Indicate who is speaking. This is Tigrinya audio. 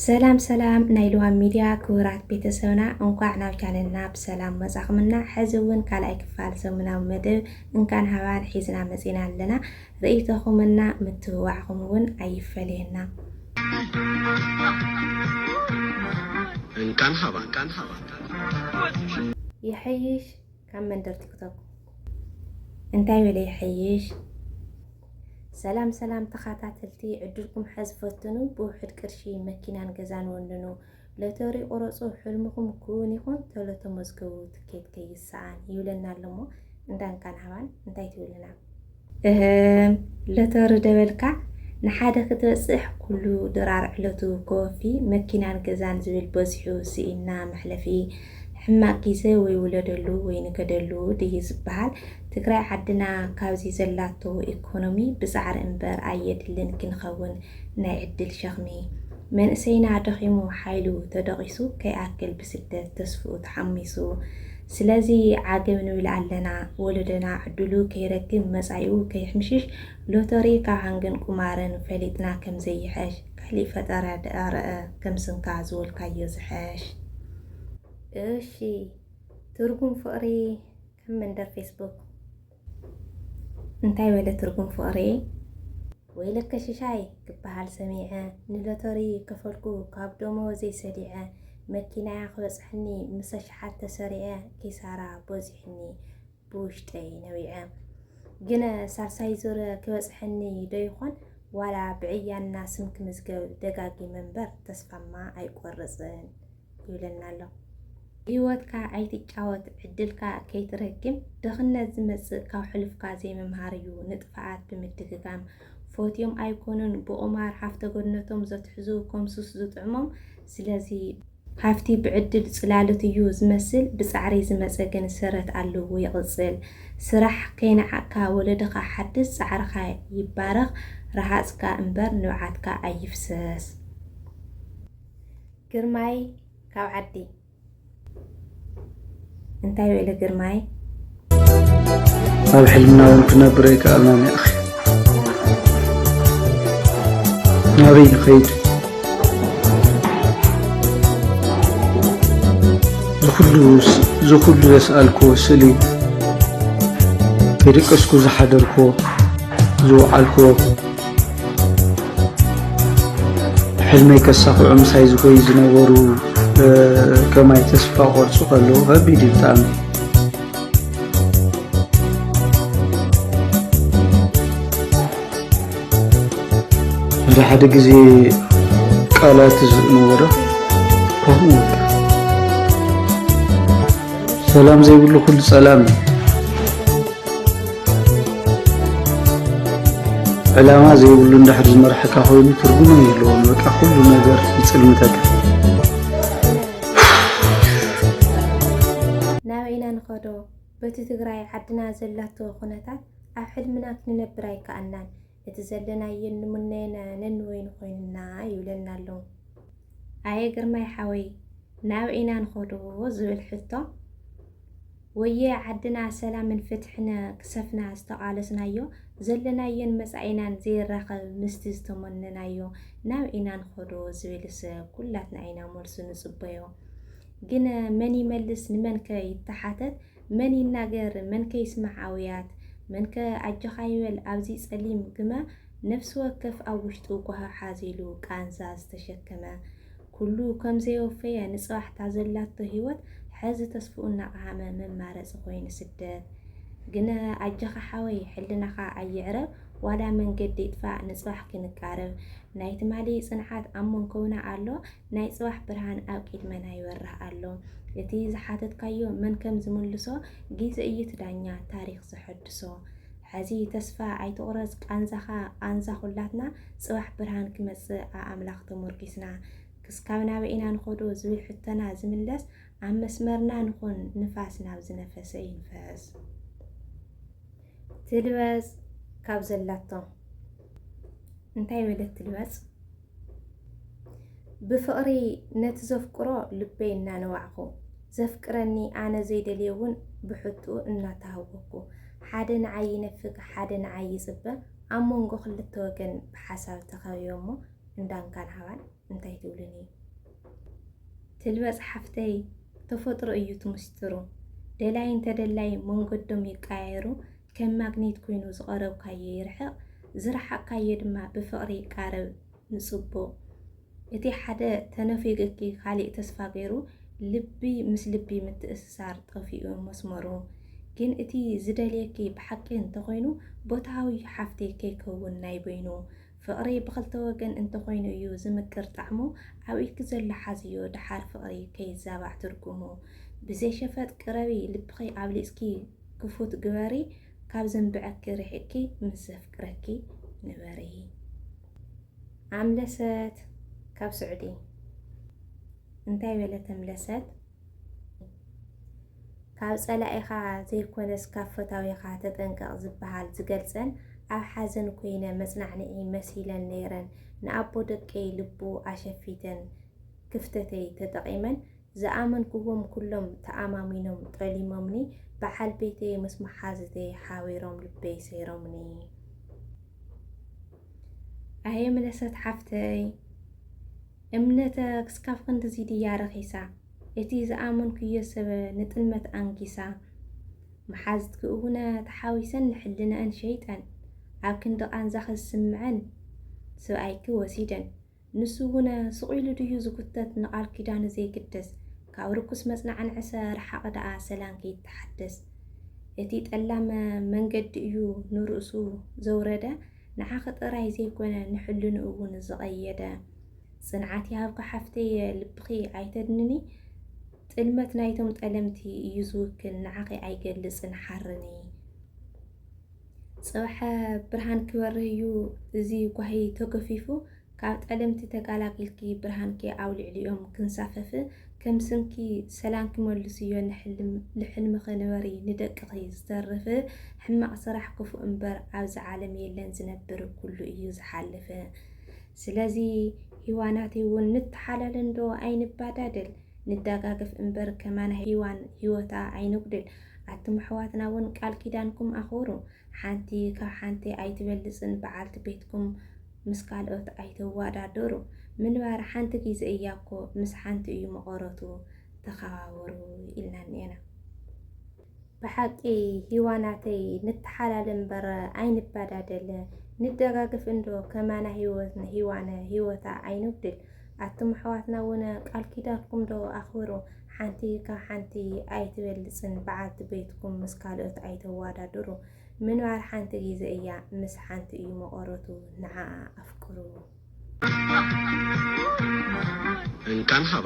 Speaker 1: ሰላም ሰላም ናይ ልዋም ሚድያ ክቡራት ቤተሰብና እንኳዕ ናብ ቻነልና ብሰላም መፃኹምና ሕዚ እውን ካልኣይ ክፋል ሰሙናዊ መደብ እንካን ሃባን ሒዝና መፂና ኣለና ርእይቶኹም እና ምትብባዕኹም እውን ኣይፈለየና እንካን ሃባን ይሐይሽ ካብ መንደር ቲክቶክ እንታይ በለ ይሐይሽ። ሰላም ሰላም ተኻታተልቲ ዕድልኩም ሐዝ ፈትኑ ብውሕድ ቅርሺ መኪናን ገዛን ወንኑ ሎተሪ ቁረፁ ሕልምኹም ክውን ይኹን ተሎ ተመዝገቡ ትኬት ከይሰኣን ይብለና ኣለሞ እንዳንካን ሃባን እንታይ ትብልና እህም ሎተሪ ዶ በልካ ንሓደ ክትበጽሕ ኩሉ ድራር ዕለቱ ኮወፊ መኪናን ገዛን ዝብል በዚሑ ስኢንና መሕለፊ ሕማቅ ጊዘ ወይ ውለደሉ ወይ ንገደሉ ድዩ ዝብሃል ትግራይ ዓድና ካብዚ ዘላቶ ኢኮኖሚ ብጻዕሪ እንበር ኣየድልን ክንከውን ናይ ዕድል ሸኽሚ መንእሰይና ደኺሙ ሓይሉ ተደቂሱ ከይኣክል ብስደት ተስፍኡ ተሓሚሱ ስለዚ ዓገብ ንብል ኣለና ወለዶና ዕድሉ ከይረክብ መጻኢኡ ከይሕምሽሽ ሎተሪ ካብ ሃንግን ቁማርን ፈሊጥና ከምዘይሕሽ ካሊእ ፈጠራ ደኣ ረኣ ከምስንካ ዝበልካዮ ዝሕሽ እሺ ትርጉም ፍቕሪ ከም መንደር ፌስቡክ እንታይ በለ ትርጉም ፍቕሪ ወይለከ ሽሻይ ክበሃል ሰሚዐ ንሎተሪ ከፈልኩ ካብ ደመወዘይ ሰሊዐ መኪናያ ክበጽሐኒ ምስ ኣሽሓት ተሰሪዐ ኪሳራ በዚሑኒ ብውሽጠይ ነቢዐ ግነ ሳልሳይ ዙር ክበጽሐኒ ዶ ይኾን ዋላ ብዕያና ስም ክምዝገብ ደጋጊ መንበር ተስፋማ ኣይቆርጽን ይብለና ኣሎ። ብህይወትካ ኣይትጫወት ዕድልካ ከይትረግም ድኽነት ዝመጽእ ካብ ሕሉፍካ ዘይምምሃር እዩ ንጥፍኣት ብምድግጋም ፎትዮም ኣይኮኑን ብቑማር ሃፍተ ገነቶም ዘትሕዙ ከም ሱስ ዝጥዕሞም ስለዚ ሃፍቲ ብዕድል ጽላሎት እዩ ዝመስል ብጻዕሪ ዝመጸ ግን ሰረት ኣለዎ ይቕጽል ስራሕ ከይነዓቕካ ወለድኻ ሓድስ ጻዕርኻ ይባረኽ ረሃጽካ እምበር ንብዓትካ ኣይፍሰስ። ግርማይ ካብ ዓዲ እንታይ ውዕሊ ግርማይ
Speaker 2: ኣብ ሕልምና እውን ክነብር ኣይከኣልናን እያ ናበይ ንኸይድ ዝኩሉ ዝኩሉ ዘስኣልክዎ ስእሊ ከይደቀስኩ ዝሓደርክዎ ዝወዓልክዎ ሕልመይ ከሳኽዑ ምሳይ ዝጎዩ ዝነበሩ ከማይ ተስፋ ቆርፁ ከለዉ ከቢድ እዩ ብጣዕሚ ሓደ ሓደ ግዜ ቃላት ዝነበረ ከምኡ ሰላም ዘይብሉ ኩሉ ፀላም እዩ ዕላማ ዘይብሉ እንዳሕር ዝመርሐካ ኮይኑ ትርጉም የለዎን። በቃ ኩሉ ነገር ይፅልምተካ።
Speaker 1: ናበይ ኢና ንኸዶ? በቲ ትግራይ ዓድና ዘላቶ ኩነታት ኣብ ሕልምና ክንነብር ኣይከኣልናን። እቲ ዘለናዮ እንምነዮን ነንበይኑ ኮይኑና ይብለና ኣሎ። ኣየ ግርማይ ሓወይ ናበይ ኢና ንኸዶ ዝብል ሕቶ ወየ ዓድና ሰላምን ፍትሕን ክሰፍና ዝተቓለስናዮ ዘለናዮን መጻኢናን ዘይራኸብ ምስቲ ዝተመነናዮ ናበይ ኢና ንኸዶ ዝብልስ ኩላትና ኢና መልሱ ንጽበዮ። ግን መን ይመልስ ንመንከ ይተሓተት መን ይናገር መን ከ ይስማዕ ኣውያት መን ከ ኣጆኻ ይበል ኣብዚ ጸሊም ግመ ነፍሲ ወከፍ ኣብ ውሽጡ ጓሂ ሓዚሉ ቃንዛ ዝተሸከመ ኩሉ ከም ዘይወፈየ ንጽባሕ እታ ዘላቶ ሂወት ሐዚ ተስፍኡ እናቀሃመ መማረጺ ኮይኑ ስደት ግነ ኣጆኻ ሓወይ ሕልናኻ ኣይዕረብ ዋላ መንገዲ ይጥፋእ ንጽባሕ ክንቃረብ ናይ ትማሊ ጽንዓት ኣብ መንኮብና ኣሎ ናይ ጽባሕ ብርሃን ኣብ ቂድመና ይበርህ ኣሎ እቲ ዝሓተትካዮ መን ከም ዝምልሶ ጊዘ እዩ እቲ ዳኛ ታሪኽ ዘሐድሶ ሐዚ ተስፋ ኣይትቑረጽ ቃንዛኻ ቃንዛ ኹላትና ጽባሕ ብርሃን ክመጽእ ኣኣምላኽ ተሞርኪስና ክስካብ ናበይ ኢና ንኸዶ ዝብል ሕቶና ዝምለስ ኣብ መስመርና ንኹን ንፋስ ናብ ዝነፈሰ ይንፈስ ትልበጽ ካብ ዘላቶ እንታይ በለት ትልበጽ ብፍቕሪ ነቲ ዘፍቅሮ ልበይ እናነባዕኩ፣ ዘፍቅረኒ ኣነ ዘይደልዮ'ውን ብሕትኡ እናተሃወኽኩ፣ ሓደ ንዓይ ይነፍግ ሓደ ንዓይ ይጽበ፣ ኣብ መንጎ ክልተ ወገን ብሓሳብ ተኸቢበ'ሞ እንዳንካን ሃባን እንታይ ትብሉኒ? ትልበጽ ሓፍተይ ተፈጥሮ እዩ እቲ ምስጢሩ ደላይን ተደላይን መንገዶም ይቀያየሩ ከም ማግኔት ኮይኑ ዝቐረብካዮ ይርሕቕ፣ ዝረሓቕካዮ ድማ ብፍቕሪ ይቃረብ ንጽቡቕ። እቲ ሓደ ተነፊጉኪ ካሊእ ተስፋ ገይሩ ልቢ ምስ ልቢ ምትእስሳር ጠፊኡ መስመሩ። ግን እቲ ዝደልየኪ ብሓቂ እንተኾይኑ ቦታዊ ዩ ሓፍተይ ከይከውን ናይ በይኑ። ፍቕሪ ብኽልተ ወገን እንተኾይኑ እዩ ዝምቅር ጣዕሙ ኣብ ኢድኪ ዘሎ ሓዝዮ ደሓር ፍቕሪ ከይዛባዕ ትርጉሙ። ብዘይሸፈጥ ቅረቢ ልብኺ ኣብሊጽኪ። ክፉት ግበሪ ካብ ዘንብዐኪ ርሒቅኪ ምስ ዘፍቅረኪ ንበሪ። ኣምለሰት ካብ ስዑዲ እንታይ በለ ተምለሰት ካብ ጸላኢኻ ዘይኮነስ ካብ ፈታዊኻ ተጠንቀቕ ዝበሃል ዝገልጸን ኣብ ሓዘን ኮይነ መጽናዕንዒ መሲለን ነይረን ንኣቦ ደቀይ ልቡ ኣሸፊተን ክፍተተይ ተጠቒመን ዝኣመንኩዎም ኩሎም ተኣማሚኖም ጠሊሞምኒ በዓል ቤተይ ምስ መሓዙተይ ሓቢሮም ልበይ ሰይሮምኒ። ኣየ ምለሰት ሓፍተይ እምነተ ክስካብ ክንድዚ ድያ ረኺሳ እቲ ዝኣመንኩዮ ሰበ ንጥልመት ኣንጊሳ መሓዝትኪ እውነ ተሓዊሰን ንሕልነኣን ሸይጠን ኣብ ክንዲ ቃንዛኺ ዝስምዐን ስብኣይኪ ወሲደን ንሱ እውን ስቕ ኢሉ ድዩ ዝጉተት ንቓል ኪዳኑ ዘይግደስ ካብ ርኩስ መጽናዕን ዕሰ ርሓቒ ደኣ ሰላም ከይተሓደስ እቲ ጠላም መንገዲ እዩ ንርእሱ ዘውረደ ንዓኺ ጥራይ ዘይኮነ ንሕልንኡ እውን ዝቐየደ ጽንዓት ይሃብኪ ሓፍተይ ልብኺ ኣይተድንኒ ጥልመት ናይቶም ጠለምቲ እዩ ዝውክል ንዓኺ ኣይገልጽን ሓርኒ። ጽባሕ ብርሃን ክበርህ እዩ እዚ ጓሂ ተገፊፉ ካብ ጠለምቲ ተጋላጊልኪ ብርሃንኪ ኣብ ልዕሊኦም ክንሳፈፍ ከም ስምኪ ሰላም ክመልስዮ ንሕልም ልሕልምኺ ንበሪ ንደቅኺ ዝተርፍ ሕማቕ ስራሕ ክፉእ እምበር ኣብዚ ዓለም የለን ዝነብር ኩሉ እዩ ዝሓልፍ ስለዚ ሂዋናተይ እውን ንተሓላለ እንዶ ኣይንባዳደል ንደጋገፍ እምበር ከማና ሂዋን ሂወታ ኣይነጉድል ኣቱም ኣሕዋትና ውን ቃል ኪዳንኩም ኣኽብሩ ሓንቲ ካብ ሓንቲ ኣይትበልጽን በዓልቲ ቤትኩም ምስ ካልኦት ኣይተዋዳድሩ ምንባር ሓንቲ ግዜ እያ እኮ ምስ ሓንቲ እዩ መቐረቱ ተኸባበሩ ኢልና እኒኤና። ብሓቂ ሂዋናተይ ንተሓላለ እምበር ኣይንባዳደል ንደጋገፍ እንዶ ከማና ሂወት ንሂዋነ ሂወታ ኣይንጉድል ኣቱም ኣሕዋትና ውን ቃል ኪዳንኩም ዶ ኣኽብሩ ሓንቲ ካብ ሓንቲ ኣይትበልጽን በዓልቲ ቤትኩም ምስ ካልኦት ኣይተዋዳድሩ ምንባር ሓንቲ ግዜ እያ ምስ ሓንቲ እዩ መቐረቱ ንዓኣ ኣፍቅሩ። እንካን ሃባ